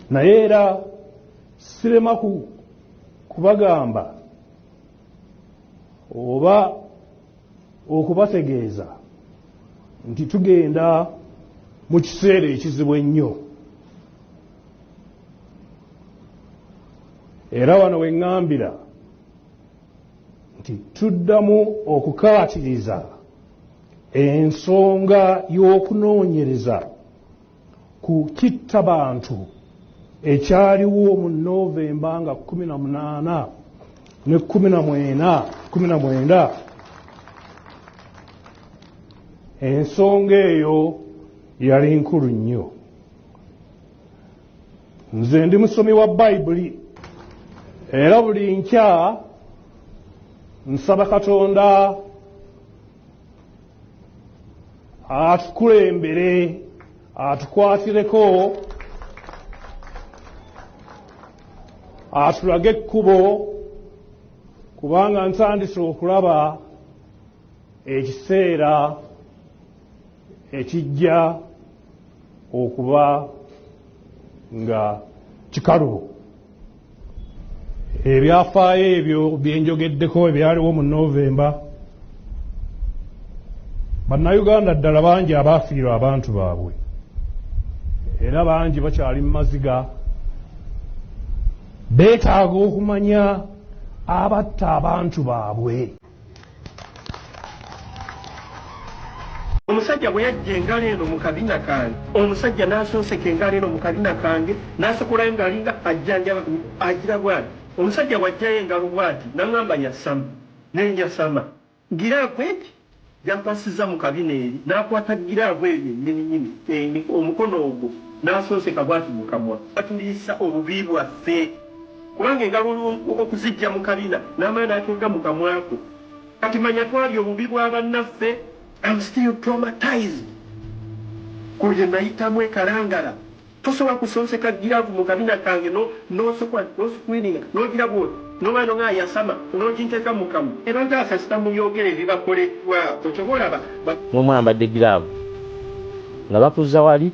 naye era sirema kubagamba oba okubategeeza nti tugenda mu kiseera ekizibu ennyo era wano weŋŋambira nti tuddamu okukaatiriza Ensonga y'okunoonyereza ku kittabantu ekyaliwo mu Novemba nga 18 ne 19 ensonga eyo yali nkulu nnyo. Nze ndi musomi wa Bayibuli era buli nkya nsaba Katonda atukulembere atukwatireko atulage ekkubo kubanga ntandise okulaba ekiseera ekijja okuba nga kikalubo ebyafaayo ebyo byenjogeddeko ebyaliwo mu novemba bannayuganda ddala bangi abaafiirwa abantu baabwe era bangi bakyali mu maziga beetaaga okumanya abatta abantu baabwe omusajja bwe yajja engalo eno mu kabina kange omusajja n'asonseka engalo eno mu kabina kange n'asekulayo ng'alinga ajjanjaba agira bwati omusajja bw'ajjayo engalo bwati n'aŋamba yasama ne njasama giraavu egi gy'ampasizza mu kabina eri n'akwata giraavu eyo yennyini nnyini eni omukono ogwo n'asonseka bwati mu kamwa. Batulisa obubi bwaffe. Kubanga engalo olw'o, okuziggya mu kabina n'amala n'ateeka mu kamwa ko. Kati manya twalya obubi bwa bannaffe. Am still traumatized ku bye nayitamu e Kalangala. Tosobola kusonseka giraavu mu kabina kange no, n'osukwa, n'osukwininga, n'ogira bw'oti, n'oba no ng'ayasama, n'oginteeka mu kamwa. Era nze kasita mubyogera ebibakoleddwako, ky'ova olaba ba. Mwe mwambadde giraavu nga bakuzza wali,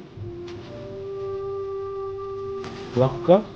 nga bakuka.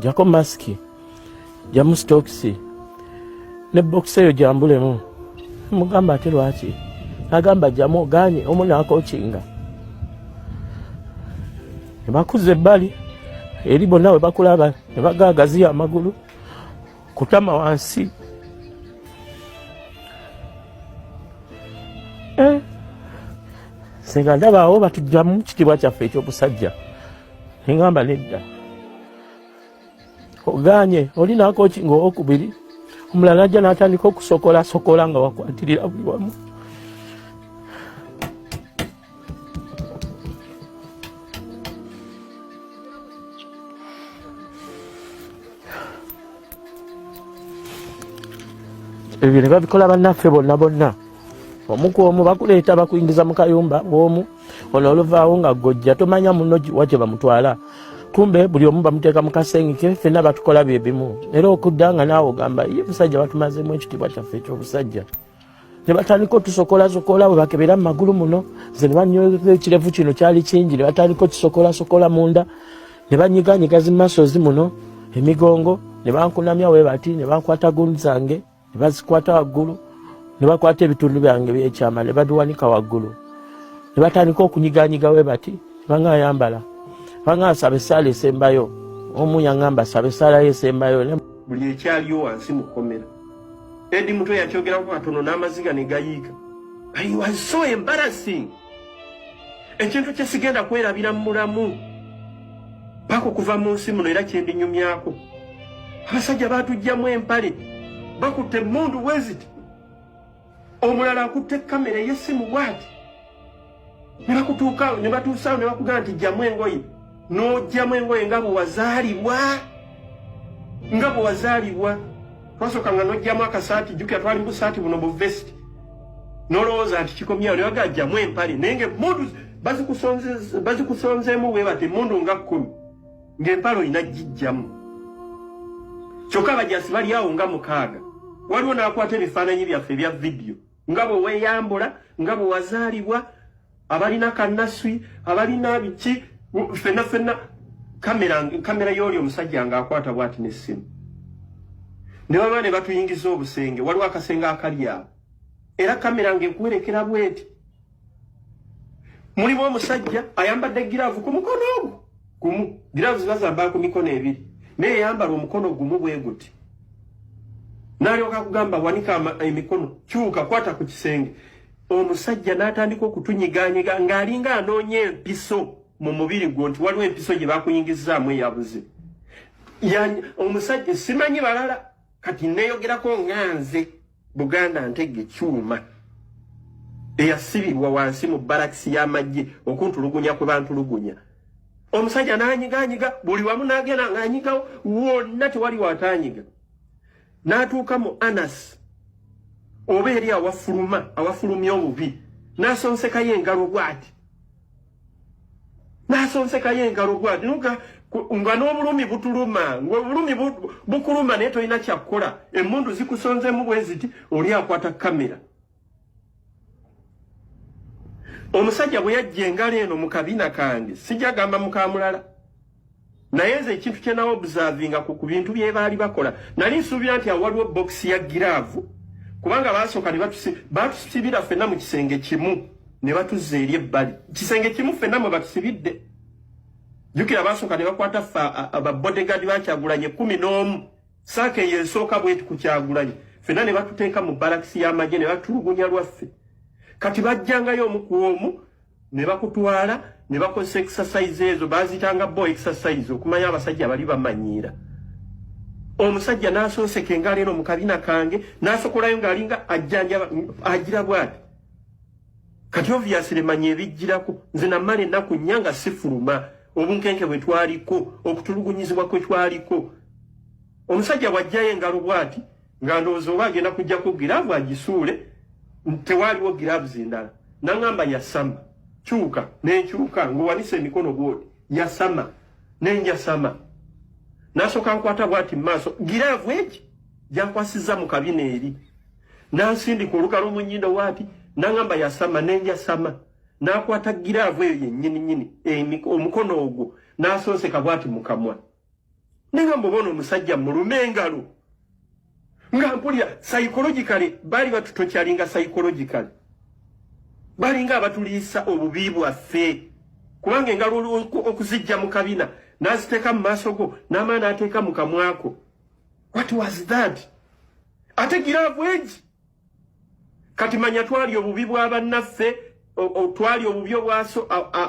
jako masiki jamu sitokisi ne bokisi eyo jambulemu mugamba ate lwaki agamba jamu oganye omu nakokinga nebakuza ebbali eri bonna we bakulaba ne bagaagaziya amagulu kutama wansi eh, senga ndabaawo batujjamu kitiibwa kyaffe ekyobusajja Engamba nedda oganye oli nakoki nga owokubiri omulala ajja natandika okusokola sokola nga wakwatirira buli wamu ebyo ne babikola bannaffe bonna bonna omu ku omu bakuleeta bakuingiza mu kayumba bwomu ono oluvaawo nga gojja tomanya muno wakye bamutwala kumbe buli omu bamuteeka mu kasengeke fenna batukola bye bimu era okudda nga naawe ogamba ye busajja batumazemu ekitiibwa kyaffe ekyobusajja ne batandika otusokolasokola bwe bakebera mu magulu muno ze ne banyoza ekirevu kino kyali kingi ne batandika okisokolasokola munda ne banyiganyiga zi masozi muno emigongo ne bankunamya we bati ne bankwata gundi zange ne bazikwata waggulu ne bakwata ebitundu byange byekyama ne babiwanika waggulu ne batandika okunyiganyiga we bati banga ayambala banga asaba esaala esembayo omu yangamba asaba esaala yo esembayo buli ekyaliyo wansi mu kkomera edi mutwe yakyogerako katono n'amaziga ne gayiika i was so embarrassing ekintu kye sigenda kwerabira mu mulamu paka okuva mu nsi muno era kyendinyumyako abasajja batujjamu empale bakutte mundu weziti omulala akutte kamera eyesimu bwati ne bakutuukaawo ne batuusaawo ne bakugamba nti jjamu engoye n'oggyamu engoye nga bwe wazaalibwa nga bwe wazaalibwa twasooka nga n'oggyamu akasaati jjukira twali mu busaati buno bu vesiti n'olowooza nti kikomyawo newaga ajjamu empale naye nga emmundu bazikusonzeemu bwe bati emmundu nga kkumi ng'empale olina gijjamu kyokka abajasi bali awo nga mukaaga waliwo n'akwata ebifaananyi byaffe ebya vidiyo nga bwe weeyambula nga bwe wazaalibwa abalina kannaswi abalina biki fenna fenna kamera kamera yooli omusajja nga akwata bwati n'essimu ne baba ne batuyingiza obusenge waliwo akasenge akali awo era kamera ng'ekuwerekera bweti mulimu omusajja ayambadde giraavu ku mukono ogwo gumu giraavu ziba zambala ku mikono ebiri naye yambala omukono gumu bwe guti n'alyoka kugamba wanika emikono kyuka kwata ku kisenge omusajja n'atandika okutunyiganyiga ng'alinga anoonya empiso mu mubiri gwo nti waliwo empiso gye bakuyingizaamu eyabuze omusajja simanyi balala kati neyogerako nga nze Buganda ntege kyuma eyasibirwa wansi mu barakisi y'amagye okuntulugunya kwe bantulugunya omusajja n'anyiganyiga buli wamu n'agenda ng'anyigawo wonna tewali wataanyiga n'atuuka mu anas oba eri awafuluma awafulumya obubi n'asonsekayo engalo bw'ati n'asonsekayo engalo bwati nuga nga n'obulumi butuluma ng'obulumi bukuluma naye tolina kyakukola emmundu zikusonzemu bwe ziti oli akwata kamera omusajja bwe yajja engalo eno mu kabina kange sijagamba mukamulala naye nze ekintu kye nawo observinga ku kubintu bye baali bakola nali nsuubira nti awaliwo box ya giraavu kubanga baasooka ne batusibira fenna mu kisenge kimu ne batuzza eri ebbali kisenge kimu fenna mwe batusibidde jukira baasooka ne bakwata ffe ababodegaadi bakyagulanye kumi n'omu saaka eyo esooka bweti kukyagulanye fenna ne batuteeka mu balakisi y'amagye ne batulugunya lwaffe kati bajjangayo omu ku omu ne bakutwala ne bakozesa exercise ezo bazitanga bo exercise okumanya abasajja bali bamanyiira omusajja n'asonseka engalo eno mu kabina kange n'asokolayo ng'alinga ajjanjaba agira bwati kati obviously manya ebijjirako nze namala ennaku nnya nga sifuluma obunkenke bwe twaliko okutulugunyizibwa kwe twaliko omusajja bw'ajjayo engalo bwati nga ndowooza oba agenda kujjako giraavu agisuule tewaaliwo giraavuzi endala naŋamba yasama kyuka nenkyuka ngaowanisa emikono bwoti yasama nenjasama nasooka nkwata bwati mu maaso giraavu egi gyakwasizza mu kabina eri nansindika olugalo mu nyindo waati naŋamba yasama nenjasama nakwata giraavu eyo yennyini nyini omukono ogwo nasonseka bwati mu kamwa Nenga mbobono omusajja mulume engalo. Nga mpulira psychologically bali batutochalinga psychologically. Bali nga abatuliisa obubi bwaffe. Kubanga engalo okuzijja mu kabina n'aziteeka mu maaso go n'amala n'ateeka mu kamwako. What was that? Ate giraavu egi kati manya twali obubi bwa bannaffe twali obubi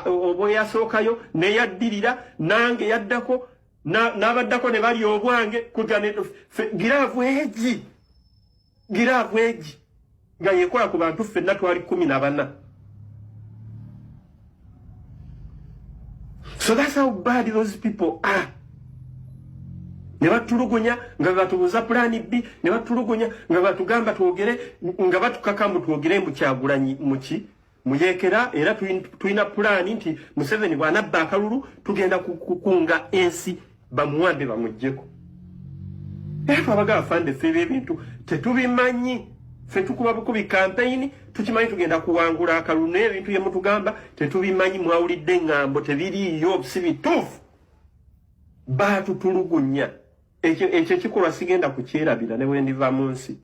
obweyasookayo neyaddirira nange yaddako n'abaddako ne bali obwange kuja giraavu egi giraavu egi nga yekola ku bantu ffenna twali kumi na bana So that's how bad those people are. Ne batulugunya nga batubuza plan B, ne batulugunya nga batugamba twogere nga batukaka mbu twogere mu kyagulanyi muki muyekera era tuina plan nti Museveni bwana bakalulu tugenda kukunga ensi Bamuwambe bamujjeko. Efa baga afande febe bintu tetubimanyi fe tukuba bukubi campaign tukimanyi tugenda kuwangula akalune ebintu yemutugamba tetubimanyi mwawulidde ngambo tebiri yo sibi tufu baatu tulugunya ekyo ekyo kikolwa sigenda kukyerabira ne wendiva munsi